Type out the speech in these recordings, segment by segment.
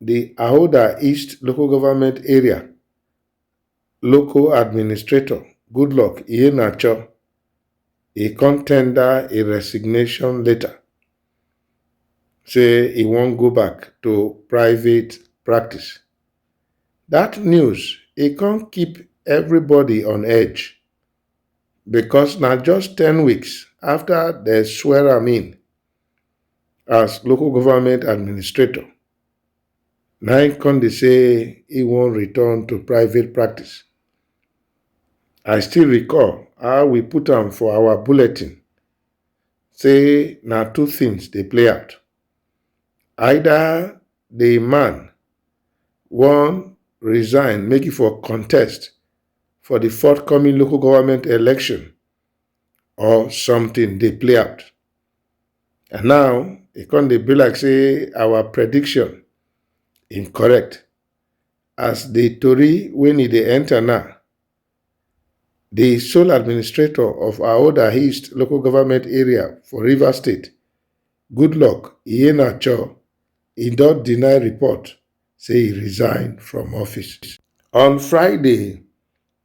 di Ahoda East Local Government Area local administrator Goodluck Iheanacho e come tender a resignation letter say e wan go back to private practice. Dat news e come keep everybody on edge because na just ten weeks after dem swear am in as local government administrator na im come dey say he wan return to private practice. I still recall how we put am for our bulletin say na two things dey play out. Either the man wan resign make e for contest for the forthcoming local government election or something dey play out. And now, e come dey be like say our prediction im correct as the tori when e dey enter now. The sole administrator of Aoda East local government area for River State, Goodluck Iheanacho, e don deny report say e resign from office. On Friday,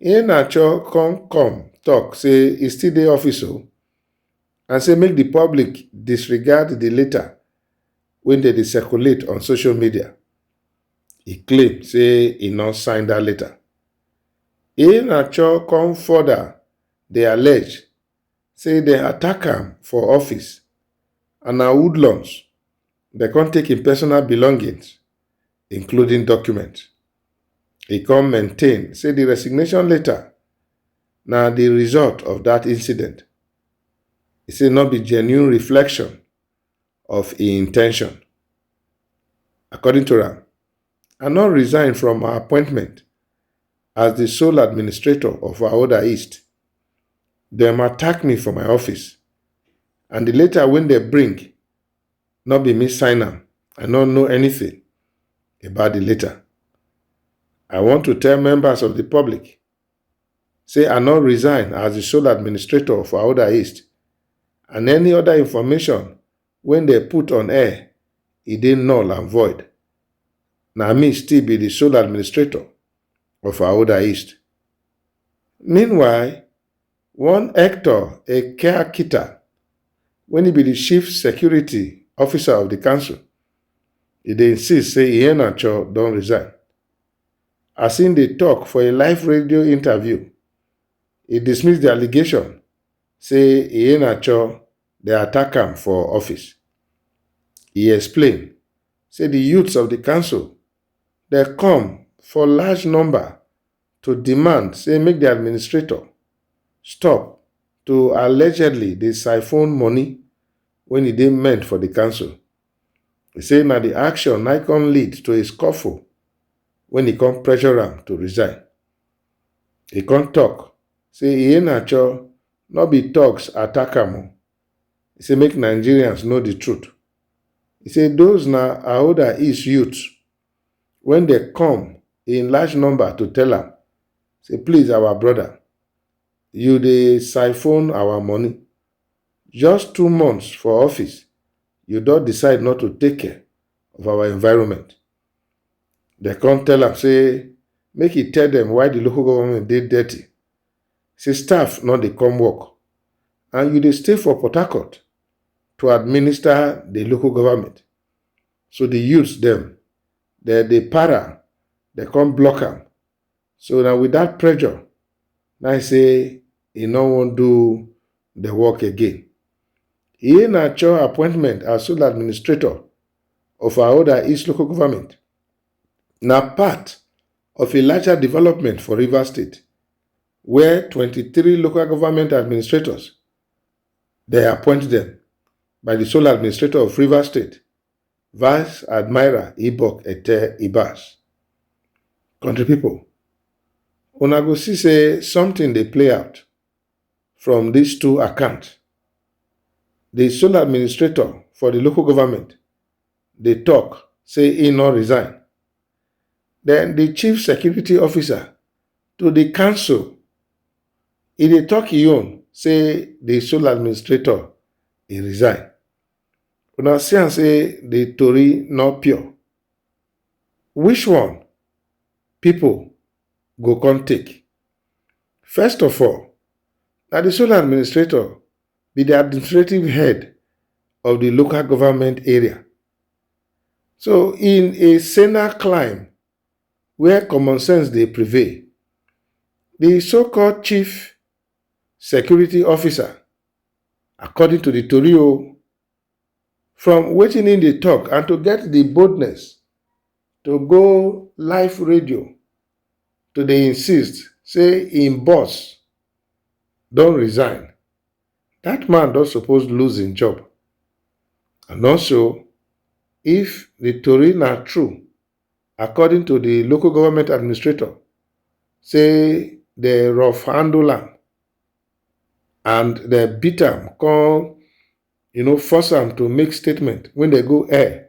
Iheanacho come come tok say e still dey office o and say make di public disregard di letter wey dem dey circulate on social media. E claim say e no sign dat letter. Iheanacho come further dey allege say dem attack am for office and na hoodlums They come take him personal belongings, including documents. He come maintain say the resignation letter na the result of that incident. He say no be genuine reflection of his intention. According to am, I no resign from my appointment as the sole administrator of Ahoda East. Dem attack me for my office and the letter wey dem bring No be me sign am, I no know anything about the letter. I want to tell members of the public say I no resign as the sole administrator for Auda East and any other information when they put on air, e dey null and void. Na me still be the sole administrator of Auda East. Meanwhile, One Hector Ekeakita wen e be di chief security officer of di council e dey insist say Iheanacho don resign. As im dey tok for a live radio interview, e dismiss di allegation say Iheanacho dey attack am for office. E explain say di youths of di council dey come for large number to demand say make di administrator stop to allegedly dey siphon money wen e dey meant for di council. E say na di action na come lead to a scuffle wen e come pressure am to resign. E come tok say Iheanacho no be thugs attack am o, e say make Nigerians know di truth. E say those na Ahoda East youths when they come in large number to tell am say please our brother you dey siphon our money just two months for office you don decide not to take care of our environment they come tell am say make he tell them why the local government dey dirty say staff no dey come work and you dey stay for port harcourt to administer the local government So the youths them, they they para, they come block am. So now with that pressure, now I say he no wan do the work again. He na cho appointment as sole administrator of Aoda East local government. Na part of a larger development for Rivers State, where 23 local government administrators dem appoint dem by di sole administrator of Rivers State, Vice Admiral Ibok Ete Ibas. Country people, una go see say something dey play out from these two accounts. The sole administrator for the local government dey talk say he no resign. Then the chief security officer to dey cancel. E dey talk e own say the sole administrator e resign. Una see am say the tori no pure. Which one people go come take? First of all, na the sole administrator be the administrative head of the local government area. So in a senile climb, where common sense dey prevail, di so-called chief security officer according to di tori o, from wetin im dey talk and to get di boldness to go live radio to dey insist say im boss don resign, dat man don suppose lose im job and also if di tori na true. according to di local government administrator say dem rough handle am and dem beat am come you know force am to make statement when dem go air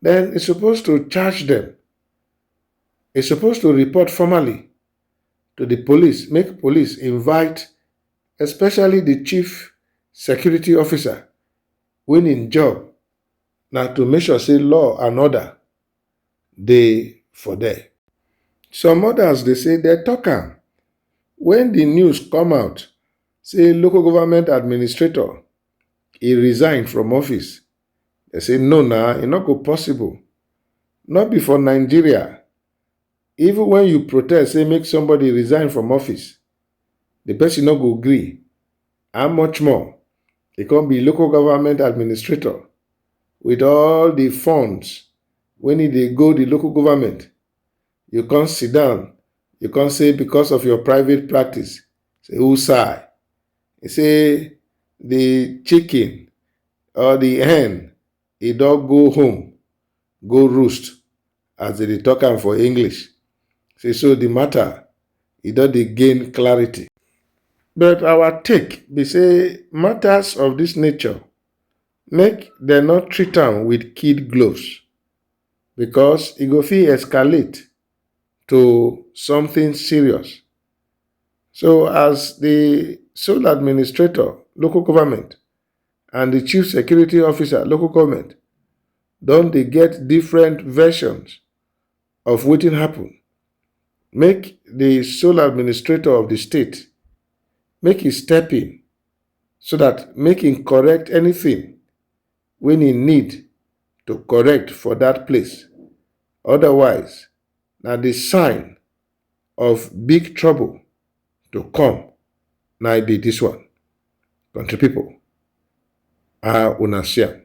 then e suppose to charge dem e suppose to report formally to di police make police invite especially di chief security officer wey im job na to make sure say law and order dey for there. Some others dey say dem talk am when the news come out say local government administrator e resign from office. Dem say no na, e no go possible. No be for Nigeria, even when you protest say make somebody resign from office, the person no go gree. and much more. He come be local government administrator with all the funds when he dey go the local government. You come sit down, you come say because of your private practice, say who sigh? He say the chicken or the hen e don go home go roost as dem dey talk am for English. Say so the matter e don dey gain clarity. But our take be say matters of this nature make dem no treat am with kid gloves because e go fit escalate to something serious. So as the sole administrator, local government, and the chief security officer local government don dey get different versions of wetin happen make the sole administrator of the state make he step in so that make him correct anything when he need to correct for that place otherwise na the sign of big trouble to come na be this one country people how una see am.